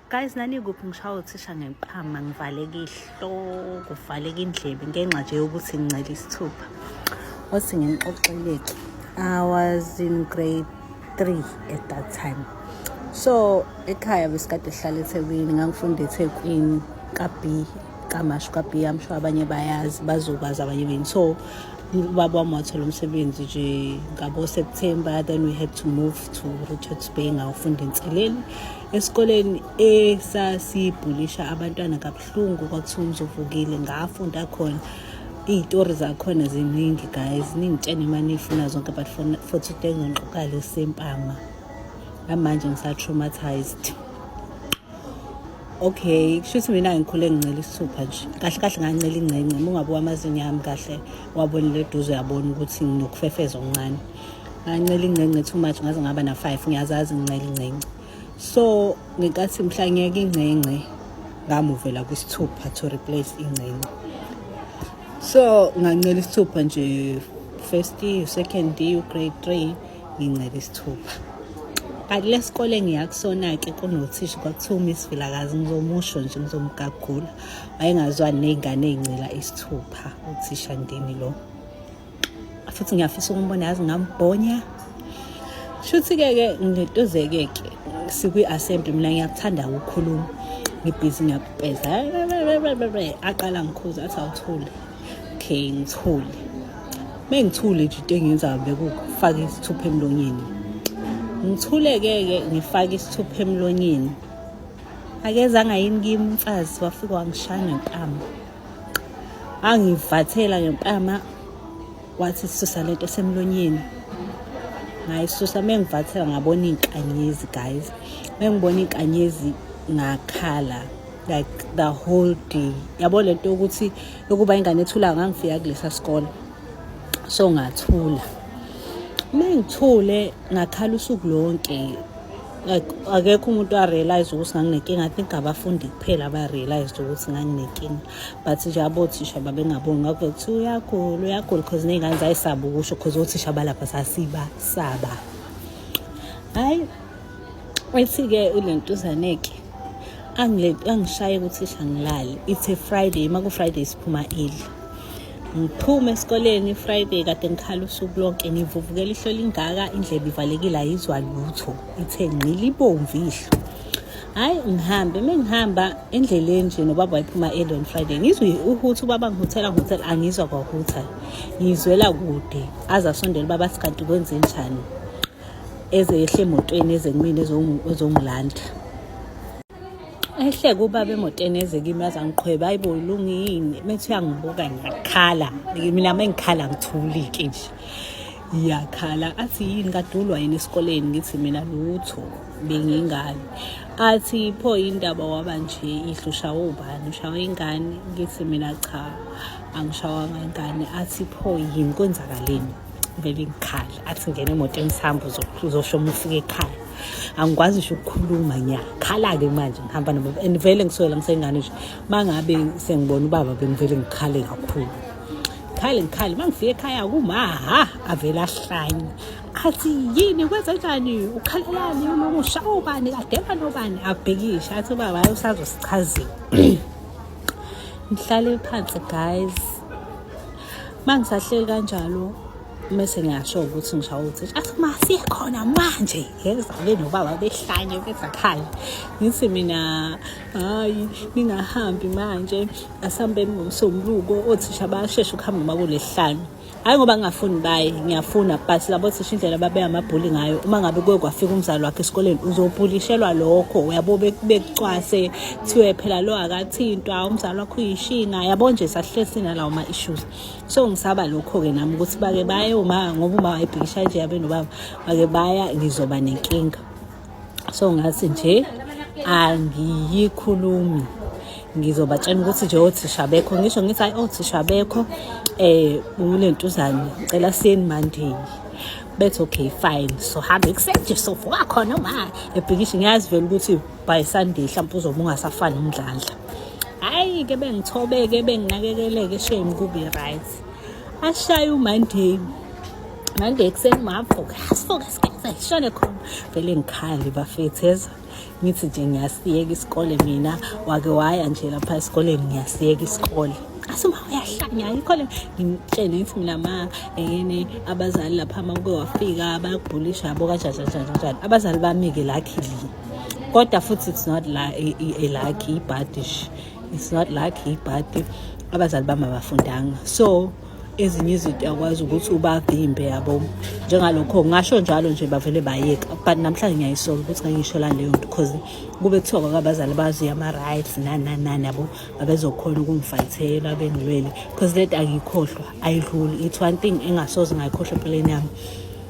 guys nanikuphi ngishawa uthisha ngeqhama ngivaleka ihloko kuvaleka indlebe ngenxa nje yokuthi ngincela isithupha wathi nginixoxeleke i was in grade three at that time so ekhaya besikade sihlala ethekwini ngangifunda ethekwini ka-b kamasho ka-b amsho abanye bayazi bazokwazi abanye beni so ubaba wami wathola umsebenzi nje ngabo-september then we had to move to Richards Bay ngawufunda enseleni esikoleni esasibhulisha abantwana kabuhlungu kwakuthiwa umzovukile ngafunda khona iy'tori zakhona ziningi guys ningitshene imane ifuna zonke but for today ngiqoka lesempama namanje ngisa-traumatized okay kusho ukuthi mina ngikhule ngincela isithupha nje kahle kahle ngancela ingcengce uma ungabuka amazinyo ami kahle wabonile eduze uyabona ukuthi nginokufefeza okuncane ngancela ingcengce too much ngaze ngaba na 5 ngiyazazi ngincela ingcengce so ngenkathi mhla ngiyeke ingcengce ngamuvela kwisithupha to replace ingcengce so ngancela isithupha nje first year second year grade 3 ngincela isithupha kanti lesikole ngiyakusona-ke kunothisha kwakuthiwa umiss vilakazi ngizomusho nje ngizomgagula wayengazwani ney'ngane ey'ncela isithupha uthisha ndini lo futhi ngiyafisa ukumbona yazi ngambhonya shuthi-ke ke ngitozeke ke sikwi-assembly mina ngiyakuthanda ukukhuluma ngibhizi ngiyakupeza aqala ngikhuza athi awuthule okay ngithule uma ngithule nje into engiyenzayo bekufaka isithupha emlonyeni ngithuleke-ke ngifake isithupha emlonyeni akezanga yini kimi umfazi wafike wangishaya ngentamo angivathela ngempama wathi susa lento esemlonyeni ngayisusa mengivathela ngabona inkanyezi guys mengibona inkanyezi ngakhala like the whole day yabo lento yokuthi yokuba ingane ethula ngangifika kulesa sikole so ngathula mengithule ngakhala usuku lonke akekho umuntu arealize ukuthi nganginenkinga i think abafundi kuphela abarealized ukuthi nganginenkinga but nje abothisha babengaboni ngakho kuthiwa uyagula uyagula because ney'ngane zayisaba ukusho because othisha balapha sasibasaba hhayi ethi-ke ule ntuzaneke angishaye ukuthi isha ngilale it's a friday uma ku-friday siphuma eli ngiphume esikoleni friday kade ngikhala usuku lonke ngivuvukela ihlo lingaka indlebe ivalekile ayizwa lutho ithe ngqilibomvu ihlo hhayi ngihambe uma ngihamba endleleni nje nobaba wayiphuma early on friday ngizwe uhutha ubaba ngihuthela ngihuthela angizwa kwahutha ngizwela kude aze asondela ubaba sikanti kwenze njani eze yehle emotweni eze kumina ezongilanda ehleke ubaba emotweni eze kimi aze angiqhwebe hayi bo ulungile methi uyangibuka ngiyakhala mina uma ngikhala ngithulike nje ngiyakhala athi yini kadulwa yini esikoleni ngithi mina lutho bengingali athi pho indaba waba nje ihlusha ubani ushawa ingane ngithi mina cha angishawanga ingane athi pho yini kwenzakaleni vele ngikhala athi ngena emotweni isihambo uzosho uma ufika ekhaya angikwazi ngisho ukukhuluma ngiyakhala-ke manje ngihamba nabo and vele ngisukela ngisengane nje uma ngabe sengibona ubaba bengivele ngikhale kakhulu ngikhale ngikhale uma ngifika ekhaya kumaha avele ahlanye athi yini kwenza njani ukhalelani unomusha obani adeba nobani abhekishe athi ubaba usazosichazile ngihlale phansi guys uma ngisahleli kanjalo mese ngiyasho ukuthi ngishawo ukuthi athi ma sikhona manje ngekuzale nobaba behlanye bezakhala ngithi mina hayi ningahambi manje asihambeni ngomsombuluko othisha bayashesha ukuhamba uma kulehlanye hayi ngoba ngingafuni baye ngiyafuna but labo thisha indlela babeya amabhuli ngayo uma ngabe kuye kwafika umzali wakhe esikoleni uzobhulishelwa lokho uyabo bekucwase kuthiwe phela lo akathintwa umzali wakho uyishina yabo nje sahlesi nalawo ma-issues so ngisaba lokho-ke nami ukuthi bake baye uma ngoba uma wayebhikisha nje yabe nobaba bake baya ngizoba nenkinga so ngathi nje angiyikhulumi ngizobatshena ukuthi nje othisha bekho ngisho ngithi hayi othisha bekho eh unentuzane ngicela siyeni mandini bethi okay fine so hambe kusenje sovuka khona uma ebhikisha ngiyazi vele ukuthi by sunday hlampe uzobe ungasafani umdlandla hayi ke bengithobeke benginakekeleke shame kubi right ashaye umonday monday ekuseni mavuka sivuka sigeza ishone khona vele ngikhali bafetheza ngithi nje ngiyasiyeka isikole mina wake waya nje lapha esikoleni ngiyasiyeka isikole asuma uyahlanya ayikho le ngimtshele ngithi mina ma yini abazali lapha uma kuke wafika bayakubhulisha yabo kanjani kanjani kanjani abazali bami-ke lakhilini kodwa futhi it's not la elakhi ibhadish it's not lakhi ibhadi abazali bami abafundanga so ezinye izinto yakwazi ukuthi ubavimbe yabo njengalokho ngasho njalo nje bavele bayeka but namhlanje ngiyayisola ukuthi ngayisho la leyo nto because kube kuthiwa kwabazali bazi ama-rights nananani yabo babezokhona ukungifayithela bengilwele because let angiyikhohlwa ayidluli it's one thing engasoze ngayikhohlwa empilweni yami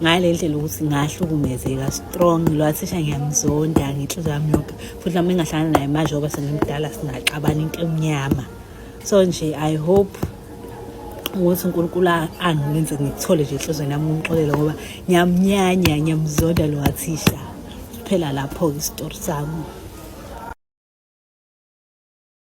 ngale ndlela ukuthi ngahlukumezeka strong lwathisha ngiyamzonda ngenhliziyo yami yonke futhi nami engahlangana naye manje oba sengimdala singaxabana into emnyama so nje i hope ukuthi unkulunkulu angenze ngikuthole nje enhlizweni yami umxolele ngoba ngiyamnyanya ngiyamzonda lo wathisha kuphela lapho-ke isitori sami